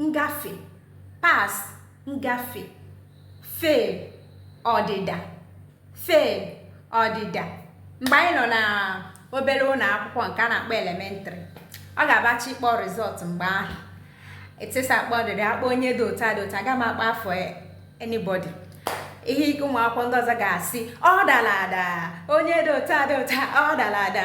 ngafe pass ngafe fail ọdịda fail ọdịda mgbe anyị nọ na obere ụlọ akwụkwọ nke a na-akpọ elementary ọ ga-abachi ịkpọ result mgbe ahụ teacher akpọ ọdịda akpọ onye dị otu a dị otu a aga m akpọ afa anybody ihe ike ụmụ akwụkwọ ndị ọzọ ga-asị ọ dara ada onye dị otu a dị otu a ọ dara ada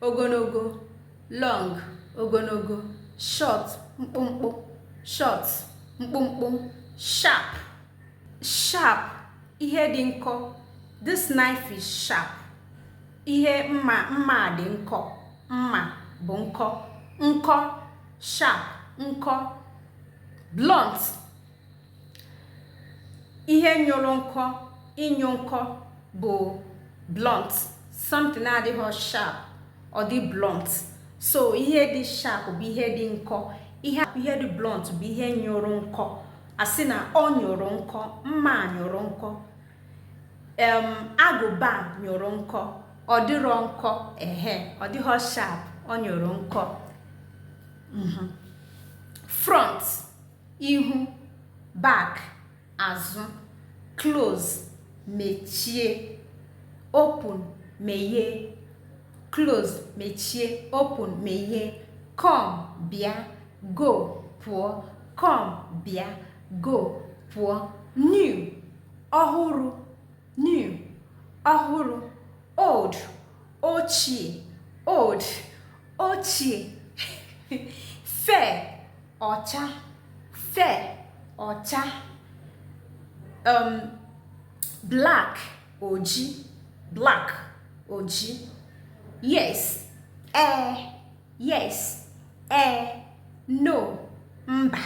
ogologo long ogologo short mkpụmkpụ short mkpụmkpụ sharp sharp ihe dị nkọ this knife is sharp ihe mma mma dị nkọ mma bụ nkọ nkọ sharp nkọ blunt ihe nyụrụ nkọ ịnyụ nkọ bụ blunt something na-adịghị sharp ọ dị blunt so ihe dị sharp bụ ihe dị nkọ ihe ihe dị blunt bụ ihe nyụrụ nkọ a sị na ọ nyụrụ nkọ mma nyụrụ nkọ em agụba nyụrụ nkọ ọ dịrọ nkọ ehe ọ dịghị sharp ọ nyụrụ nkọ mhm front ihu back azụ close mechie open meghee close mechie open meghee come bịa go pụọ come bịa go pụọ new ọhụrụ new ọhụrụ old ochie old ochie fe ọcha fe ọcha um, black oji black oji yes ee yes ee no mba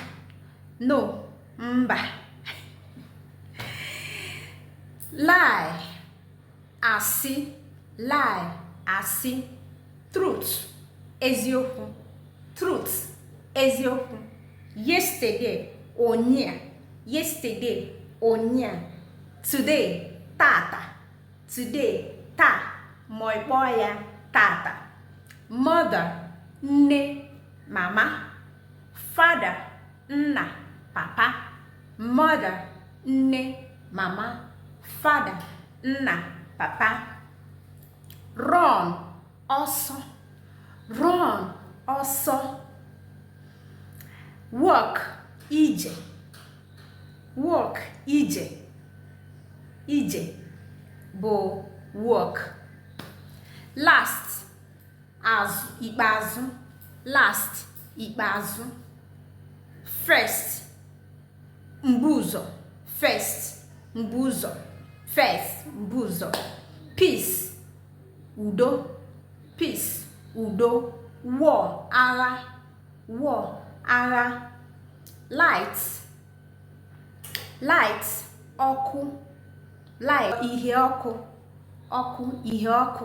no mba lie Asị, lie, asị. Truth, eziokwu. Truth, eziokwu. Yesterday, ụnyaa. Yesterday, ụnyaa. Today, tata. Today, taa. Ma ị kpọọ ya tata. Mother, nne, mama. Father, nna, papa. mother, nne, mama, father, nna, papa, run, ọsọ, run, ọsọ, walk, ije, walk, ije, ije bụ walk, last, azụ ikpeazụ last ikpeazụ first mbu ụzọ first mbu ụzọ first mbu ụzọ peace udo peace udo war agha war agha light light ọkụ light ihe ọkụ ọkụ ihe ọkụ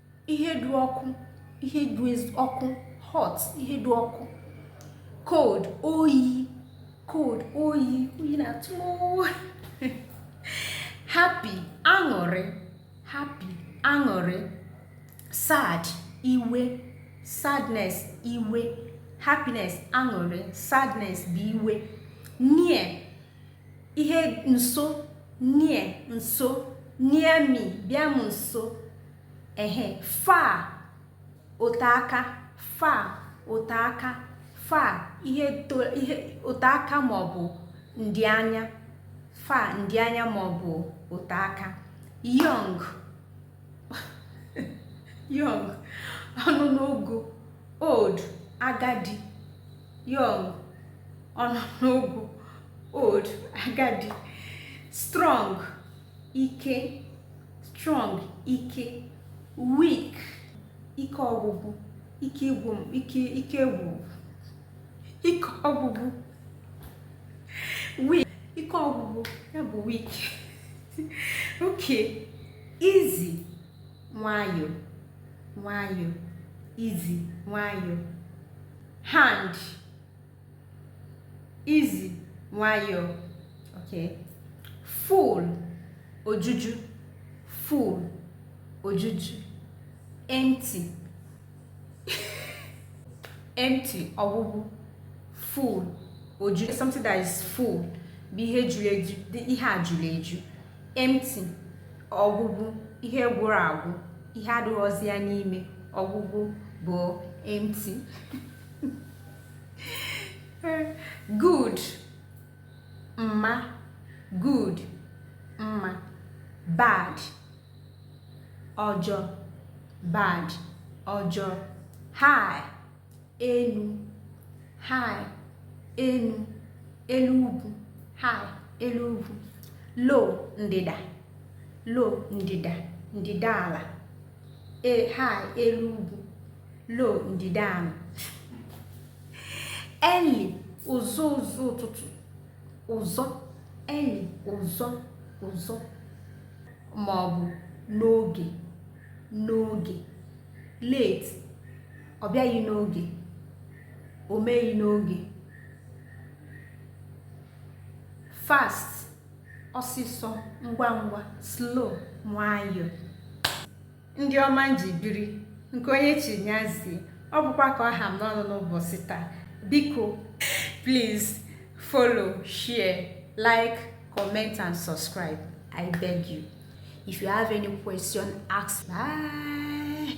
ihe dị ọkụ ihe dị ọkụ hot ihe dị ọkụ cold oyi cold oyi oyi na-atụ happy aṅụrị happy aṅụrị sad iwe sadness iwe happiness aṅụrị sadness bụ iwe near ihe nso near nso near me bịa m nso ehe far ote aka far ote aka far ihe ote aka maọbụ ndị anya far ndị anya maọbụ ote aka young young ọ nọ n'ogo old agadi young ọ nọ n'ogo old agadi strong ike strong ike weak ike ọgwụgwụ ike ịgwụ ike ike ịgwụ ike ọgwụgwụ weak ike ọgwụgwụ ya bụ weak okay easy nwayọọ nwayọọ easy nwayọọ hand Easy, nwayọọ. Okay. Full, ojuju. Full, ojuju. Empty. Empty, ọgwụgwụ. Full, ojuju. Something that is full. Bụ ihe juru eju, ihe a juru eju. Empty, ọgwụgwụ, ihe gwụrụ agwụ, ihe adịghịzi ya n'ime. Ọgwụgwụ bụ empty. good mma good mma bad ọjọọ bad ọjọọ high elu high elu elu ugwu high elu ugwu low ndịda low ndịda ndịda ala high elu ugwu low ndịda ala early ụzọ ụzọ ụtụtụ ụzọ early ụzọ ụzọ ma ọ bụ n'oge n'oge late ọ bịaghị n'oge o meghị n'oge fast ọsịsọ ngwa ngwa slow nwayọọ ndị ọma m ji biri nke onye chi nya zie ọ bụkwa ka ọ ha m n'ọnụ n'ụbọchị taa biko please follow share like comment and subscribe i beg you if you have any question ask bye